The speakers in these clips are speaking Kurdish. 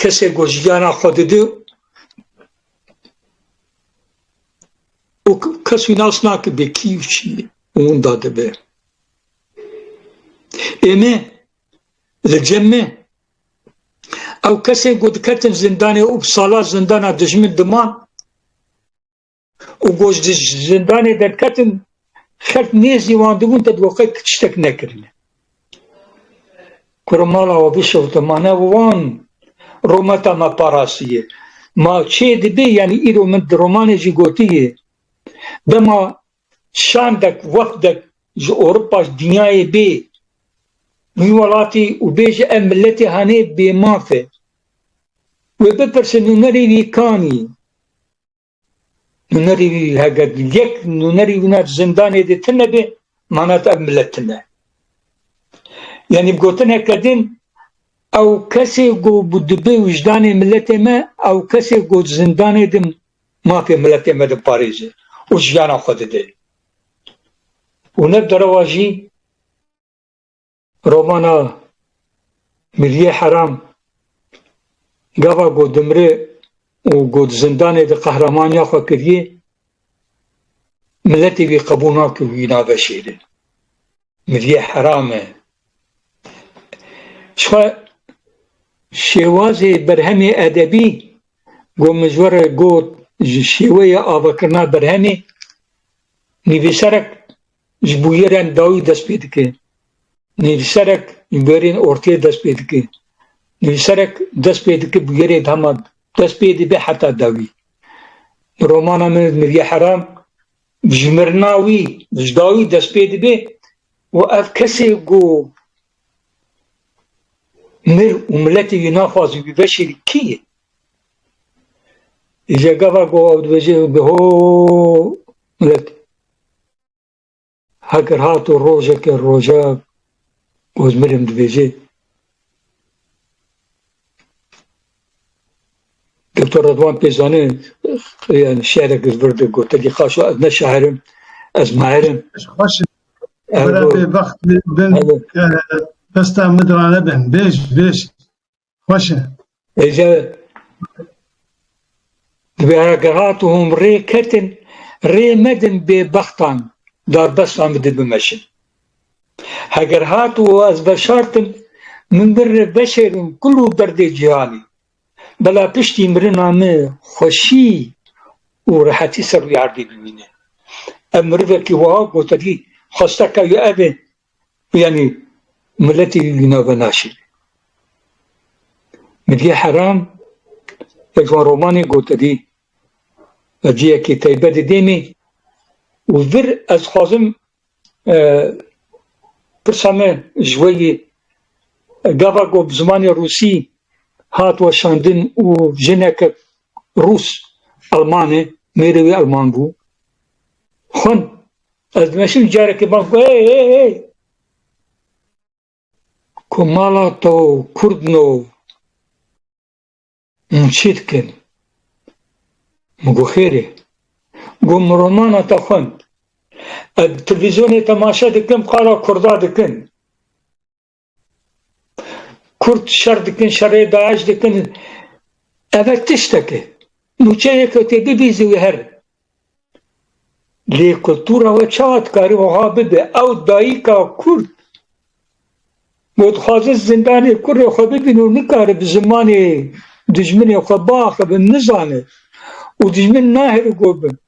Kesê ku jiyana xwe dide û kes wî nas nakibe kî û çi ye û winda dibe. Ê me li cem me ew kesên ku diketin zindanê û bi salan zindana dijmin diman, û ku ji zindanê derketin xelk nêzî wan dibûn te bi qet tiştek nekirine. Kura mala we bişewte ma ne wan rometa me parastiye. Ma çê dibê yanî îro min di romanê jî gotiye dema şandek wefdek ji Ewropa ji dinyayê bê wî welatî û bêje ev miletê hanê bêmaf e. Wê bipirsin nûnerê wî kanî? Nûnerî hege yek nûnerî wina zindanê de tune be manat ev millet tune. Yanî gotineke din ew kesê ku dibe wijdanê milletê me ew kesê ku zindanê de mafê milletê me diparêze û jiyana xwe dide. Û ne derewa jî Romana Miliyê Heram gava ku dimre û ku di zindanê de qehramaniya xwe kiriye, miletê wî qebûl nake wî nave şêrin. Miliyê Heram e. Jixwe şêwazê berhemê edebî ku min ji we re got ji şêweyê avakirina berhemê, nivîserek Ji bûyerên dawî dest pê dike. Nivîserek ji bûyerên ortê dest pê dike. Nivîserek dest pê dike bûyerê dema dest pê dibe heta dawî. Di romana min Nivîya Heram dijmirina wî ji dawî dest pê dibe û ev kesê ku mir û miletê wî naxwazî wî veşêrî kî ye? Ji gava ku ew dibêje ho Milletî. Heger hato rojeke roja Ozmirem dibêjê, Doktor Redwan pê zanê yani şi'rek li vir de gotekî xaşo ez ne şair im, ez maer im. Xweş bera bêbext bin desta min diranebin. Bêj bêj. Xweş e. Êca divê heke hat û hûn rê ketin, rê medin bêbextan darbestan bi di bimeşin. Heger hat û ez veşartim, min bin rê veşêrin kul û derdê cîhanî. Bela piştî mirina me xweşî û rehetî ser rûyê erdê bimîne. Ev mirivekî wiha goterî, Xweste kewya ev ê, Yanî miletî li nav ve naşîne. Milî Heram ya ji wan romanên gotinî ya cihekî teybet di dêmî û vir ez dixwazim pirsa me ji we yê gava ku bi zimanê rûsî hat weşandin û jineke rûs elman e mêrê wê elman bû xwend Ez dimeşim carekê bang ku hey hey hey ku mala to kurdin o min çi dikin? Min got xêrê. Got min romana te xwend. Ez di televîzyonê temaşe dikim qala kurda dikin. Kurd şer dikin, şerê DAIŞ dikin. Ev her tiştek e. Nûçeyê ku tê bibî zî wê here. Lê kultura we çawa dikarî wiha bibe? Ew dayika Kurd got dixwaze zindanê kurê xwe bibîne û nikare bi zimanê dijminê xwe biaxive, nizane û dijmin nahêle got bin.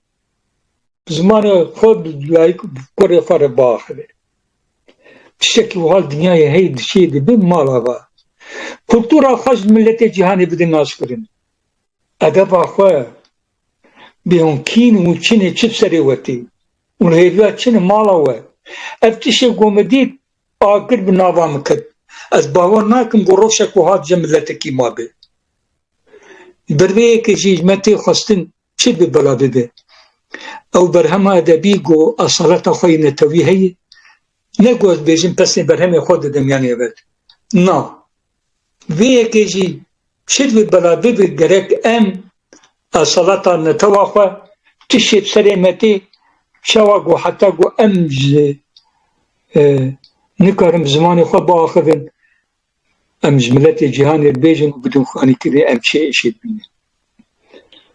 Zimanê xwe bi dayik û kurê xwe re biaxivin. Tiştekî wiha li dinyayê heye dişiyê dibe mala xwe. Kultura xwe ji miletê cîhanê bide naskirin. Edeba xwe bê hûn kîn û çinê çi bi serê we tê û li hêviya çin e mala we. Ev tişê ku min dît a kir bi nava min ket. Ez bawer nakim ku rojek wiha dije miletekî mabe. Bi rêyekê jî ji me tê xwestin çi bi bila bibe. Ew berhema edebî ku esaleta xwe yê netewî heye, ne ku ez bêjim pesnê berhemê xwe didim yanê evel. Na. Vê yekê jî çi bi bila bibe gerek em esaleta netewa xwe tiştê bi serê me tê çawa ku heta ku em ji nikarin bi zimanê xwe biaxivin em ji miletê cîhanê bêjin û bidin xwe anî kivê em çê êşê dibînin.